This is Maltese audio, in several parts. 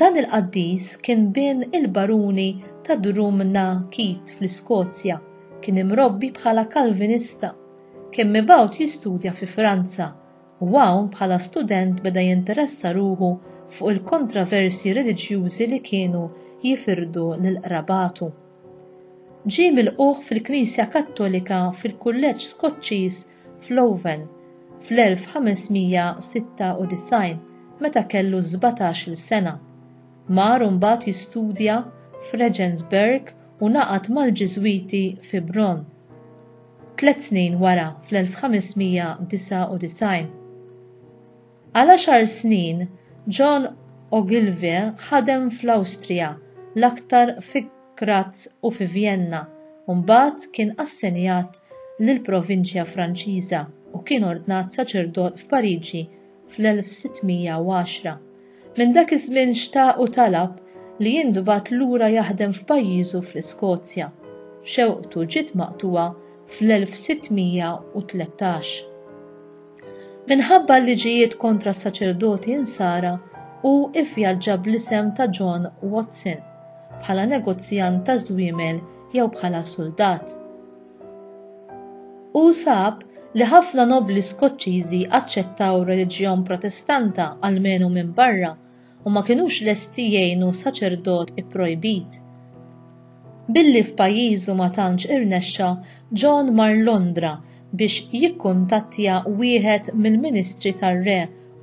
Dan il-qaddis kien bin il-Baruni ta' Drum na Keith fl-Iskozja, kien imrobbi bħala Kalvinista, kien mibgħut jistudja fi Franza u hawn bħala student beda jinteressa ruħu fuq il-kontroversji reliġjużi li kienu jifirdu lil qrabatu. Ġie milqugħ fil-Knisja Kattolika fil-Kulleġġ Skoċċiż f'Leuven fl-1596 meta kellu sbatax-il sena. Mar imbagħad jistudja f'Regensburg u ngħaqad mal-Ġiżwiti fi Bronn. Tliet snin wara, fl-1599, Għal għaxar snin, John Ogilvie ħadem fl-Awstrija, l-aktar fi Graz u fi Vjenna, u mbagħad kien assenjat lill-provinċja Franċiża u kien ordnat saċerdot f'Pariġi fl-1610. Minn dak iż-żmien xtaq u talab li jintbagħat lura jaħdem f'pajjiżu fl-Iskozja. Xewqtu ġiet maqtugħa fl-1613. Minħabba l-liġijiet kontra s-saċerdoti Insara, hu vvjaġġa bl-isem ta' John Watson, bħala negozjant ta' żwiemel jew bħala suldat. Hu sab li ħafna nobbli Skoċċiżi aċċettaw r-reliġjon Protestanta almenu minn barra u ma kinux lesti jgħinu saċerdot ipprojbit. Billi f'pajjiżu ma tantx irnexxa, John mar Londra biex jikkuntattja wieħed mill-ministri tar-re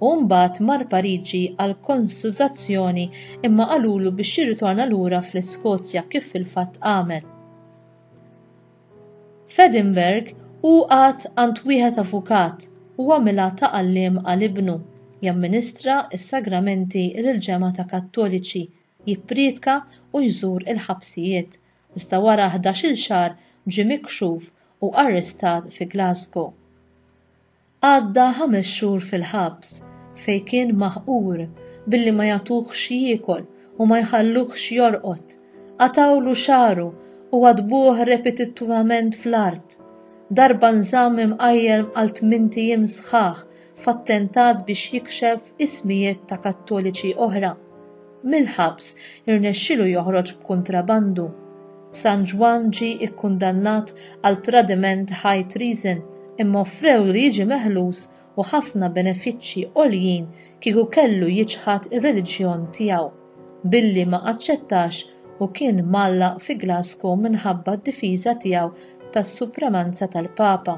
u mbagħad mar Pariġi għal konsultazzjoni imma qalulu biex jirritorna lura fl-Iskozja kif fil-fatt għamel. F'Edinburgh hu qagħad għand wieħed avukat u għamilha ta' għalliem għal ibnu, jamministra s-sagramenti lill-ġemgħa ta' Kattoliċi, jipprietka u jżur il-ħabsijiet, iżda wara ħdax-il xahar ġie mikxuf u arrestat fi Glasgow. Għadda ħames xhur fil-ħabs fejn kien maħqur billi ma jagħtuh x'jiekol u ma jħalluh x'jorqod, qatgħulu xagħru u għaddbuh repetittivament fl-art, darba nżamm imqajjem għal tmint ijiem sħaħ f'attentat biex jikxef ismijiet ta' Kattoliċi oħra. Mill-ħabs irnexxielu joħroġ b'kuntrabandu. San Ġwann ġie kkundannat għal tradiment high treason imma offrewlu li jiġi meħlus u ħafna benefiċċji għoljin kieku kellu jiċħad ir-reliġjon tiegħu, billi ma aċċettax u kien mgħallaq fi Glasgow minħabba d-difiża tiegħu tas-supremanza tal-Papa.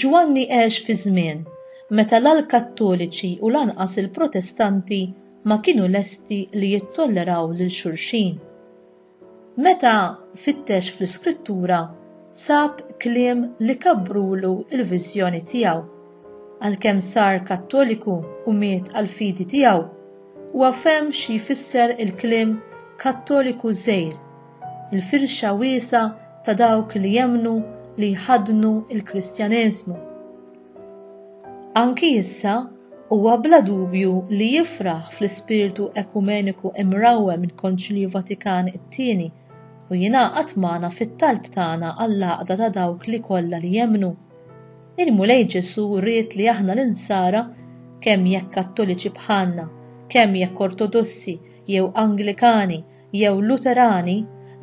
Ġwanni għex fi żmien meta la l-Kattoliċi u lanqas il-Protestanti ma kienu lesti li jittolleraw lil xulxin. Meta fittex fl-Iskrittura, sab kliem li kabbruwlu l-viżjoni tiegħu. Għalkemm sar Kattoliku u miet għall-fidi tiegħu, huwa fehem xi jfisser il-kliem Kattoliku żgħir il-firxa wiesgħa ta' dawk li jemmnu li jħaddnu l-Kristjaneżmu. Anki issa huwa bla dubju li jifraħ fl-ispirtu ekumeniku imrawwem mill-Konċilju Vatikan it-Tieni u jingħaqad magħna fit-talb tagħna għall-għaqda ta' dawk li kollha li jemmnu. Il-Mulej Ġesù ried li aħna l-Insara, kemm jekk Kattoliċi bħalna, kemm jekk Ortodossi jew Anglikani, jew Luterani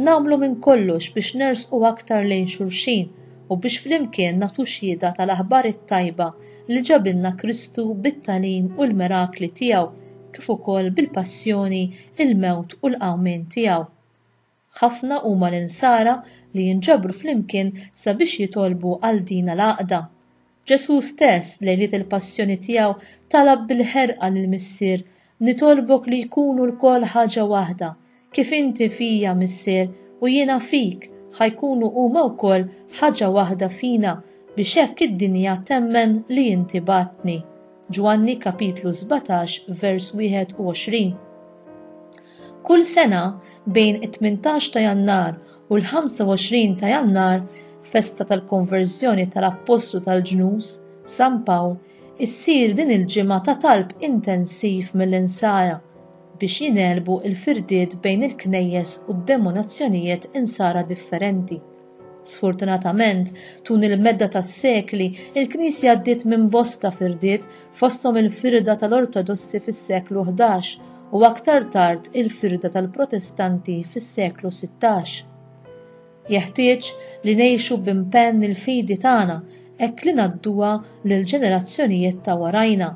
nagħmlu minn kollox biex nersqu aktar lejn xulxin u biex flimkien nagħtu xhieda tal-aħbar it-tajba li ġabilna Kristu bit-tagħlim u l-mirakli tiegħu kif ukoll bil-passjoni, il-mewt u l-qawmien tiegħu. Ħafna huma l-Insara li jinġabru flimkien sabiex jitolbu għal dina l-għaqda. Ġesù stess, lejliet il-Passjoni tiegħu, talab bil-ħerqa lill-Missier, Nitolbok li jkunu lkoll ħaġa waħda, kif inti fija, Missier, u jiena fik, ħa jkunu huma wkoll ħaġa waħda fina, biex hekk id-dinja temmen li inti bgħattni. Ġwanni kapitlu 17 vers 21. Kull sena bejn it-18 ta' Jannar u l-25 ta' Jannar, festa tal-konverżjoni tal-Appostlu tal-Ġnus, San Pawl, issir din il-ġimgħa ta' talb intensiv mill-Insara biex jingħelbu l-firdiet bejn il-Knejjes u d-denominazzjonijiet Insara differenti. Sfortunatament, tul il-medda tas-sekli, il-Knisja għaddiet minn bosta firdiet, fosthom il-firda tal-Ortodossi fis-seklu ħdax u aktar tard il-firda tal-Protestanti fis-seklu sittax. Jeħtieġ li ngħixu b'impenn il-fidi tagħna hekk li ngħadduha lill-ġenerazzjonijiet ta' warajna.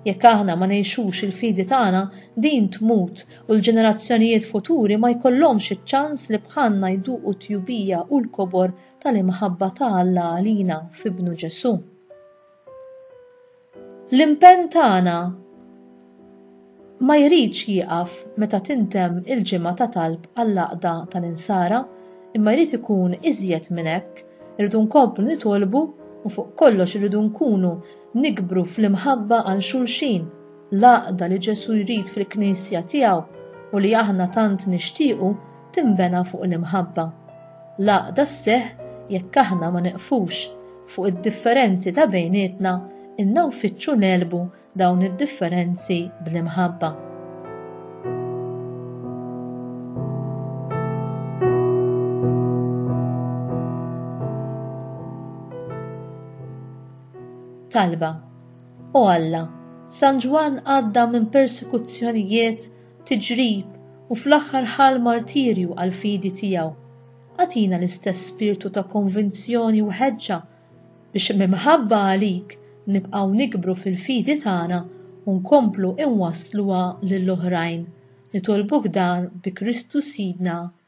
Jekk aħna ma ngħixux il-fidi tagħna, din tmut u l-ġenerazzjonijiet futuri ma jkollhomx iċ-ċans li bħalna jduqu t-tjubija u l-kobor tal-imħabba ta' Alla għalina f'Ibnu Ġesù. L-impenn tagħna ma jridx jieqaf meta tintemm il-ġimgħa ta' talb għall-għaqda tal-Insara, imma jrid ikun iżjed minn hekk, irridu nkomplu nitolbu u fuq kollox irridu nkunu Nikbru fl-imħabba għal xulxin, l-għaqda li Ġesù jrid fil-Knisja tiegħu u li aħna tant nixtiequ tinbena fuq l-imħabba. L-għaqda sseħħ jekk aħna ma neqfux fuq id-differenzi ta' bejnietna inna nfittxu negħlbu dawn id-differenzi bl-imħabba. Talba. O Alla, San Ġwann għadda minn persekuzzjonijiet, tiġrib u fl-aħħar ħa l-martirju għall-fidi tiegħu. Agħtina l-istess spirtu ta' konvinzjoni u ħeġġa biex mimħabba għalik nibqgħu nikbru fil-fidi tagħna u nkomplu inwassluha lill-oħrajn. Nitolbuk dan bi Kristu Sidna.